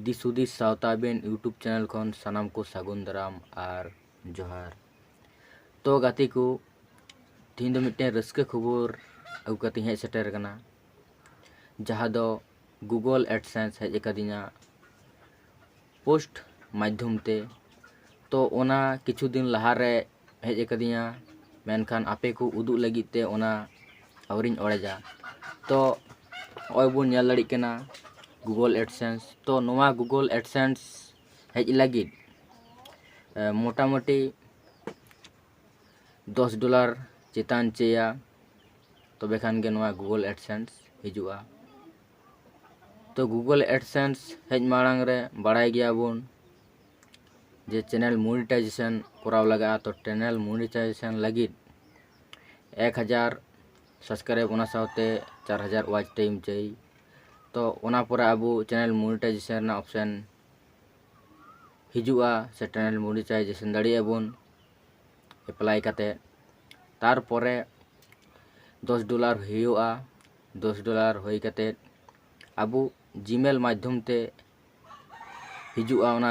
ᱫᱤᱥ ᱦᱩᱫᱤᱥ ᱥᱟᱶᱛᱟ ᱟᱵᱮᱱ ᱭᱩᱴᱩᱵᱽ ᱪᱮᱱᱮᱞ ᱠᱷᱚᱱ ᱥᱟᱱᱟᱢ ᱠᱚ ᱥᱟᱹᱜᱩᱱ ᱫᱟᱨᱟᱢ ᱟᱨ ᱡᱚᱦᱟᱨ ᱛᱚ ᱜᱟᱛᱮ ᱠᱚ ᱛᱮᱦᱮᱧ ᱫᱚ ᱢᱤᱫᱴᱮᱱ ᱨᱟᱹᱥᱠᱟᱹ ᱠᱷᱚᱵᱚᱨ ᱟᱹᱜᱩ ᱠᱟᱛᱮᱧ ᱦᱮᱡ ᱥᱮᱴᱮᱨ ᱟᱠᱟᱱᱟ ᱡᱟᱦᱟᱸ ᱫᱚ ᱜᱩᱜᱚᱞ ᱮᱰᱥᱮᱱᱥ ᱦᱮᱡ ᱟᱠᱟᱫᱤᱧᱟ ᱯᱳᱥᱴ ᱢᱟᱫᱽᱫᱷᱚᱢ ᱛᱮ ᱛᱚ ᱚᱱᱟ ᱠᱤᱪᱷᱩ ᱫᱤᱱ ᱞᱟᱦᱟᱨᱮ ᱦᱮᱡ ᱟᱠᱟᱫᱤᱧᱟ ᱢᱮᱱᱠᱷᱟᱱ ᱟᱯᱮ ᱠᱚ ᱩᱫᱩᱜ ᱞᱟᱹᱜᱤᱫ ᱛᱮ ᱚᱱᱟ ᱟᱹᱣᱨᱤᱧ ᱚᱲᱮᱡᱟ ᱛᱚ ᱱᱚᱜᱼᱚᱭ ᱵᱚᱱ ᱧᱮᱞ ᱫᱟᱲᱮᱭᱟᱜ ᱠᱟᱱᱟ ᱜᱩᱜᱳᱞ ᱮᱰᱥᱮᱱᱥ ᱛᱚ ᱱᱚᱣᱟ ᱜᱩᱜᱳᱞ ᱮᱰᱥᱮᱱᱥ ᱦᱮᱡ ᱞᱟᱹᱜᱤᱫ ᱢᱚᱴᱟᱢᱩᱴᱤ ᱫᱚᱥ ᱰᱚᱞᱟᱨ ᱪᱮᱛᱟᱱ ᱪᱟᱹᱭᱟ ᱛᱚᱵᱮ ᱠᱷᱟᱱ ᱜᱮ ᱱᱚᱣᱟ ᱜᱩᱜᱳᱞ ᱮᱰᱥᱮᱱᱥ ᱦᱤᱡᱩᱜᱼᱟ ᱛᱚ ᱜᱩᱜᱳᱞ ᱮᱰᱥᱮᱱᱥ ᱦᱮᱡ ᱢᱟᱲᱟᱝ ᱨᱮ ᱵᱟᱲᱟᱭ ᱜᱮᱭᱟᱵᱚᱱ ᱡᱮ ᱪᱮᱱᱮᱞ ᱢᱚᱱᱤᱴᱟᱭᱡᱮᱥᱚᱱ ᱠᱚᱨᱟᱣ ᱞᱟᱜᱟᱜᱼᱟ ᱛᱚ ᱪᱮᱱᱮᱞ ᱢᱚᱱᱤᱴᱟᱭᱡᱮᱥᱚᱱ ᱞᱟᱹᱜᱤᱫ ᱮᱠ ᱦᱟᱡᱟᱨ ᱥᱟᱵᱥᱠᱨᱟᱭᱤᱵᱽ ᱚᱱᱟ ᱥᱟᱶᱛᱮ ᱪᱟᱨ ᱦᱟᱡᱟᱨ ᱚᱣᱟᱪ ᱴᱟᱭᱤᱢ ᱪᱟᱹᱦᱤ ᱛᱚ ᱚᱱᱟ ᱯᱚᱨᱮ ᱟᱵᱚ ᱪᱮᱱᱮᱞ ᱢᱚᱱᱤᱴᱟᱭᱡᱮᱥᱚᱱ ᱨᱮᱱᱟᱜ ᱚᱯᱷᱥᱮᱱ ᱦᱤᱡᱩᱜᱼᱟ ᱥᱮ ᱪᱮᱱᱮᱞ ᱢᱚᱱᱤᱴᱟᱭᱡᱮᱥᱚᱱ ᱫᱟᱲᱮᱭᱟᱜᱼᱟ ᱵᱚᱱ ᱮᱯᱞᱟᱭ ᱠᱟᱛᱮ ᱛᱟᱨᱯᱚᱨᱮ ᱫᱚᱥ ᱰᱚᱞᱟᱨ ᱦᱩᱭᱩᱜᱼᱟ ᱫᱚᱥ ᱰᱚᱞᱟᱨ ᱦᱩᱭ ᱠᱟᱛᱮ ᱟᱵᱚ ᱡᱤᱢᱮᱞ ᱢᱟᱫᱽᱫᱷᱚᱢ ᱛᱮ ᱦᱤᱡᱩᱜᱼᱟ ᱚᱱᱟ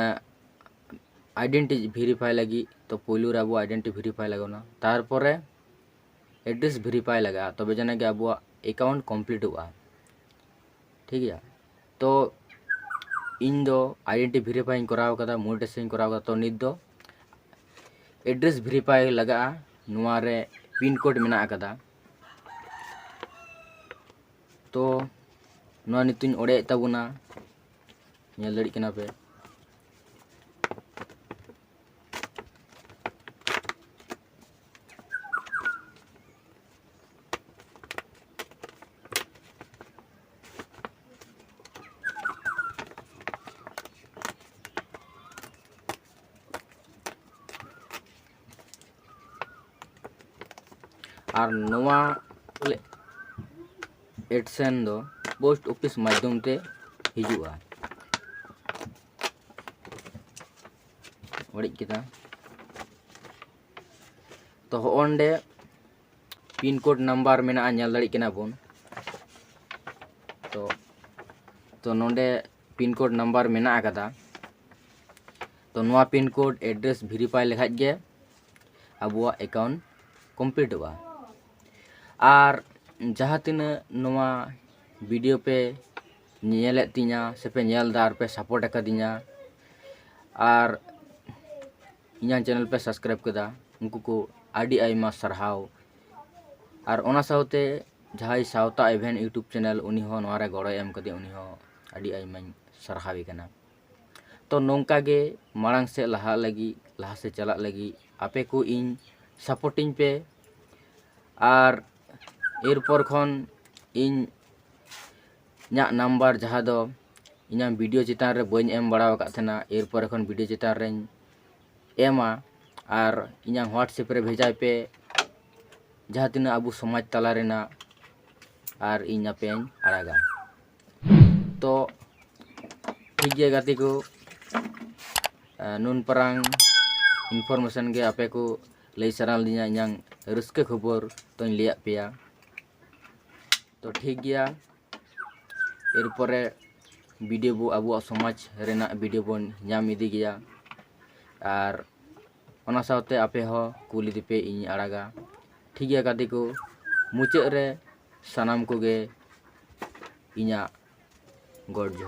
ᱟᱭᱰᱮᱱᱴᱤ ᱵᱷᱮᱨᱤᱯᱷᱟᱭ ᱞᱟᱹᱜᱤᱫ ᱛᱚ ᱯᱳᱭᱞᱳ ᱨᱮ ᱟᱵᱚ ᱟᱭᱰᱮᱱᱴᱤ ᱵᱷᱮᱨᱤᱯᱷᱟᱭ ᱞᱟᱜᱟᱣ ᱵᱚᱱᱟ ᱛᱟᱨᱯᱚᱨᱮ ᱮᱰᱨᱮᱥ ᱵᱷᱮᱨᱤᱯᱷᱟᱭ ᱞᱟᱜᱟᱜᱼᱟ ᱛᱚᱵᱮ ᱡᱟᱱᱟ ᱜᱮ ᱟᱵᱚᱣᱟᱜ ᱮᱠᱟᱣᱩᱱᱴ ᱠᱚᱢᱯᱞᱤᱴᱚᱜᱼᱟ ᱴᱷᱤᱠ ᱜᱮᱭᱟ ᱛᱚ ᱤᱧ ᱫᱚ ᱟᱭᱰᱮᱱᱴᱤ ᱵᱷᱮᱨᱤᱯᱷᱟᱭᱤᱧ ᱠᱚᱨᱟᱣ ᱠᱟᱫᱟ ᱢᱚᱱᱤᱴᱮᱥᱚᱱᱤᱧ ᱠᱚᱨᱟᱣ ᱠᱟᱫᱟ ᱛᱚ ᱱᱤᱛ ᱫᱚ ᱮᱰᱨᱮᱥ ᱵᱷᱮᱨᱤᱯᱷᱟᱭ ᱞᱟᱜᱟᱜᱼᱟ ᱱᱚᱣᱟ ᱨᱮ ᱯᱤᱱ ᱠᱳᱰ ᱢᱮᱱᱟᱜ ᱠᱟᱫᱟ ᱛᱚ ᱱᱚᱣᱟ ᱱᱤᱛᱚᱜ ᱤᱧ ᱚᱲᱮᱡ ᱛᱟᱵᱚᱱᱟ ᱧᱮᱞ ᱫᱟᱲᱮᱜ ᱠᱟᱱᱟ ᱯᱮ ᱟᱨ ᱱᱚᱣᱟ ᱮᱰᱥᱮᱱ ᱫᱚ ᱯᱳᱥᱴ ᱚᱯᱷᱤᱥ ᱢᱟᱫᱽᱫᱷᱚᱢ ᱛᱮ ᱦᱤᱡᱩᱜᱼᱟ ᱚᱲᱮᱡ ᱠᱮᱫᱟ ᱛᱚ ᱦᱚᱸᱰᱮ ᱯᱤᱱ ᱠᱳᱰ ᱱᱟᱢᱵᱟᱨ ᱢᱮᱱᱟᱜᱼᱟ ᱧᱮᱞ ᱫᱟᱲᱮᱭᱟᱜ ᱠᱟᱱᱟ ᱵᱚᱱ ᱛᱚ ᱛᱚ ᱱᱚᱰᱮ ᱯᱤᱱ ᱠᱳᱰ ᱱᱟᱢᱵᱟᱨ ᱢᱮᱱᱟᱜ ᱟᱠᱟᱫᱟ ᱛᱚ ᱱᱚᱣᱟ ᱯᱤᱱ ᱠᱳᱰ ᱮᱰᱨᱮᱥ ᱵᱷᱮᱨᱤᱯᱷᱟᱭ ᱞᱮᱠᱷᱟᱡ ᱜᱮ ᱟᱵᱚᱣᱟᱜ ᱮᱠᱟᱣᱩᱱᱴ ᱠᱚᱢᱯᱞᱤᱴᱚᱜᱼᱟ ᱟᱨ ᱡᱟᱦᱟᱸ ᱛᱤᱱᱟᱹᱜ ᱱᱚᱣᱟ ᱵᱷᱤᱰᱤᱭᱳ ᱯᱮ ᱧᱮᱞᱮᱫ ᱛᱤᱧᱟ ᱥᱮᱯᱮ ᱧᱮᱞ ᱮᱫᱟ ᱟᱨ ᱯᱮ ᱥᱟᱯᱳᱨᱴ ᱟᱠᱟᱫᱤᱧᱟ ᱟᱨ ᱤᱧᱟᱹᱜ ᱪᱮᱱᱮᱞ ᱯᱮ ᱥᱟᱵᱥᱠᱨᱟᱭᱤᱵᱽ ᱠᱮᱫᱟ ᱩᱱᱠᱩ ᱠᱚ ᱟᱹᱰᱤ ᱟᱭᱢᱟ ᱥᱟᱨᱦᱟᱣ ᱟᱨ ᱚᱱᱟ ᱥᱟᱶᱛᱮ ᱡᱟᱦᱟᱸᱭ ᱥᱟᱶᱛᱟ ᱮᱵᱷᱮᱱ ᱤᱭᱩᱴᱩᱵᱽ ᱪᱮᱱᱮᱞ ᱩᱱᱤ ᱦᱚᱸ ᱱᱚᱣᱟ ᱨᱮ ᱜᱚᱲᱚᱭ ᱮᱢ ᱠᱟᱫᱮᱭᱟ ᱩᱱᱤ ᱦᱚᱸ ᱟᱹᱰᱤ ᱟᱭᱢᱟᱧ ᱥᱟᱨᱦᱟᱣᱮ ᱠᱟᱱᱟ ᱛᱚ ᱱᱚᱝᱠᱟ ᱜᱮ ᱢᱟᱲᱟᱝ ᱥᱮᱫ ᱞᱟᱦᱟᱜ ᱞᱟᱹᱜᱤᱫ ᱞᱟᱦᱟ ᱥᱮᱫ ᱪᱟᱞᱟᱜ ᱞᱟᱹᱜᱤᱫ ᱟᱯᱮ ᱠᱚ ᱤᱧ ᱥᱟᱯᱳᱨᱴᱤᱧ ᱯᱮ ᱟᱨ ᱮᱨᱯᱚᱨ ᱠᱷᱚᱱ ᱤᱧ ᱤᱧᱟᱹᱜ ᱱᱟᱢᱵᱟᱨ ᱡᱟᱦᱟᱸ ᱫᱚ ᱤᱧᱟᱹᱜ ᱵᱷᱤᱰᱤᱭᱳ ᱪᱮᱛᱟᱱ ᱨᱮ ᱵᱟᱹᱧ ᱮᱢ ᱵᱟᱲᱟ ᱟᱠᱟᱫ ᱛᱟᱦᱮᱱᱟ ᱮᱨᱯᱚᱨ ᱠᱷᱚᱱ ᱵᱷᱤᱰᱤᱭᱳ ᱪᱮᱛᱟᱱ ᱨᱤᱧ ᱮᱢᱟ ᱟᱨ ᱤᱧᱟᱹᱜ ᱦᱳᱣᱟᱴᱥᱮᱯ ᱨᱮ ᱵᱷᱮᱡᱟᱭ ᱯᱮ ᱡᱟᱦᱟᱸ ᱛᱤᱱᱟᱹᱜ ᱟᱵᱚ ᱥᱚᱢᱟᱡᱽ ᱛᱟᱞᱟ ᱨᱮᱱᱟᱜ ᱟᱨ ᱤᱧ ᱟᱯᱮᱭᱟᱜ ᱤᱧ ᱟᱲᱟᱜᱟ ᱛᱚ ᱴᱷᱤᱠ ᱜᱮᱭᱟ ᱜᱟᱛᱮ ᱠᱚ ᱱᱩᱱ ᱯᱟᱨᱟᱝ ᱤᱱᱯᱷᱚᱨᱢᱮᱥᱚᱱ ᱜᱮ ᱟᱯᱮ ᱠᱚ ᱞᱟᱹᱭ ᱥᱟᱱᱟ ᱞᱤᱫᱤᱧᱟ ᱤᱧᱟᱹᱜ ᱨᱟᱹᱥᱠᱟᱹ ᱠᱷᱚᱵᱚᱨ ᱛᱚᱧ ᱞᱟᱹᱭᱟᱫ ᱯᱮᱭᱟ ᱛᱚ ᱴᱷᱤᱠ ᱜᱮᱭᱟ ᱮᱨᱯᱚᱨᱮ ᱵᱷᱤᱰᱤᱭᱳ ᱵᱚ ᱟᱵᱚᱣᱟᱜ ᱥᱚᱢᱟᱡᱽ ᱨᱮᱱᱟᱜ ᱵᱷᱤᱰᱤᱭᱳ ᱵᱚᱱ ᱧᱟᱢ ᱤᱫᱤ ᱜᱮᱭᱟ ᱟᱨ ᱚᱱᱟ ᱥᱟᱶᱛᱮ ᱟᱯᱮ ᱦᱚᱸ ᱠᱩᱞ ᱤᱫᱤ ᱯᱮ ᱤᱧ ᱟᱲᱟᱜᱟ ᱴᱷᱤᱠ ᱜᱮᱭᱟ ᱜᱟᱛᱮ ᱠᱚ ᱢᱩᱪᱟᱹᱫ ᱨᱮ ᱥᱟᱱᱟᱢ ᱠᱚᱜᱮ ᱤᱧᱟᱹᱜ ᱜᱚᱰ ᱡᱚᱦᱟᱨ